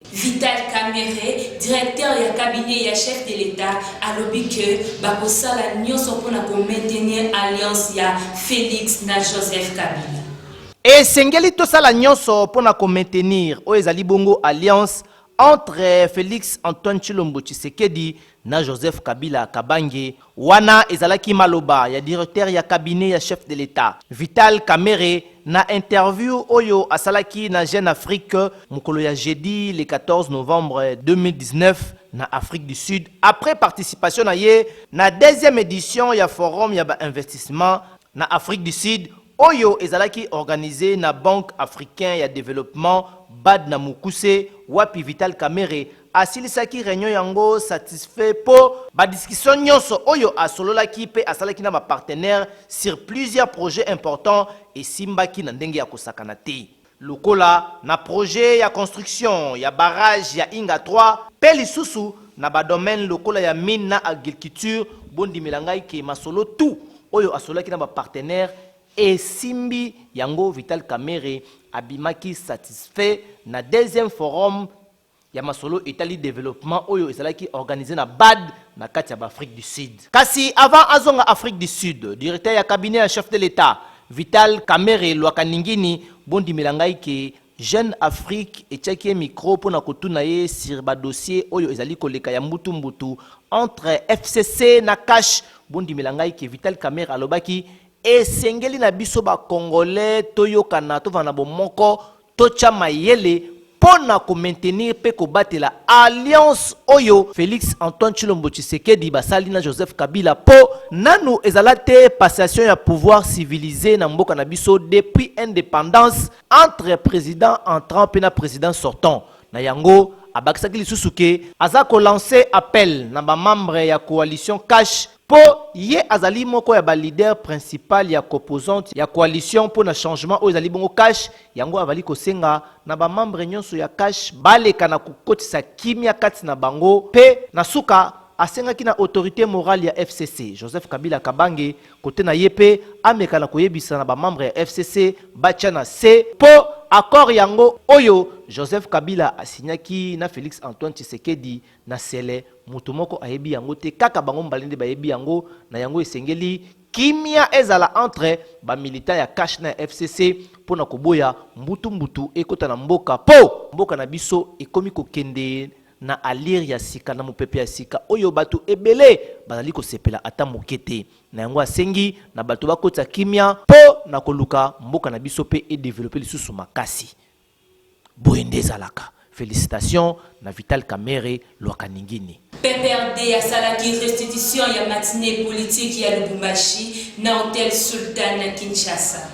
Vital Kamerhe, directeur ya cabinet ya chef de l'Etat, alobi que bakosala nionso mpo na ko maintenir alliance ya Felix na Joseph Kabila. Esengeli tosala nionso mpo na ko maintenir oyo ezali bongo alliance entre Felix Antoine Tshilombo Tshisekedi na Joseph Kabila Kabange, wana ezalaki maloba ya directeur ya cabinet ya chef de l'Etat, Vital Kamerhe, na interview oyo asalaki na Jeune Afrique mokolo ya jeudi le 14 novembre 2019 na Afrique du Sud après participation na ye na deuxième edition ya forum ya ba investissements na Afrique du Sud oyo ezalaki organise na Banque africain ya developpement, bad, na mokuse, wapi Vital Kamerhe Asilisaki reunion yango satisfait mpo ba discussions nionso oyo asololaki mpe asalaki na ba partenaires sur plusieurs projets importants esimbaki na ndenge ya kosakana te, lokola na projet ya construction ya barrage ya Inga 3 mpe lisusu na ba domaines lokola ya mines na agriculture. Bondimela ngai que masolo tout oyo asololaki na ba partenaires esimbi, yango Vital Kamerhe abimaki satisfait na deuxième forum. ya masolo etali developpement oyo ezalaki organise na bad na kati ya ba Afrique du Sud. Kasi avant azonga Afrique du Sud, directeur ya cabinet ya chef de l'Etat, Vital Kamerhe Lwakaningini, bondimela ngai que Jeune Afrique etiaki ye micro mpo na kotuna ye sur ba dossiers oyo ezali koleka ya mbutu mbutu entre fcc na CACH, bondimela ngai que Vital Kamerhe alobaki, Esengeli na biso ba Congolais toyokana, tovanda na bomoko, totya mayele mpo na ko maintenir mpe kobatela alliance oyo Felix Antoine Tshilombo Tshisekedi basali na Joseph Kabila mpo nanu ezala te passation ya pouvoir civilise na mboka na biso depuis independance entre president entrant mpe na president sortant. Na yango, abakisaki lisusu que aza ko lancer appel na ba membres ya coalition CACH Mpo ye azali moko ya ba leaders principal ya composante ya coalition mpo na changement oyo ezali bongo CACH, yango avali kosenga na ba membres nionso ya CACH baleka na kokotisa kimia kati na bango mpe na suka asengaki na autorite morale ya fcc, Joseph Kabila Kabange, kote na ye mpe ameka na koyebisa na ba membres ya fcc batia na se mpo accord yango oyo Joseph Kabila a signaki na Felix Antoine Tshisekedi Na sele, moto moko ayebi yango te, kaka bango mbale nde bayebi yango, na yango esengeli kimia ezala entre ba militants ya CACH na ya FCC mpo na koboya mbutu mbutu ekota na mboka mpo mboka na biso ekomi kokende na allure ya sika na mopepe ya sika oyo bato ebele bazali kosepela ata moke te. Na yango asengi na bato bakotisa kimia mpo na koluka mboka na biso mpe e developper lisusu makasi. Boye nde ezalaka. Felicitations na Vital Kamerhe Lwakaningini. PPRD asalaki restitution ya matinee politique ya Lubumbashi na hotel Sultan na Kinshasa.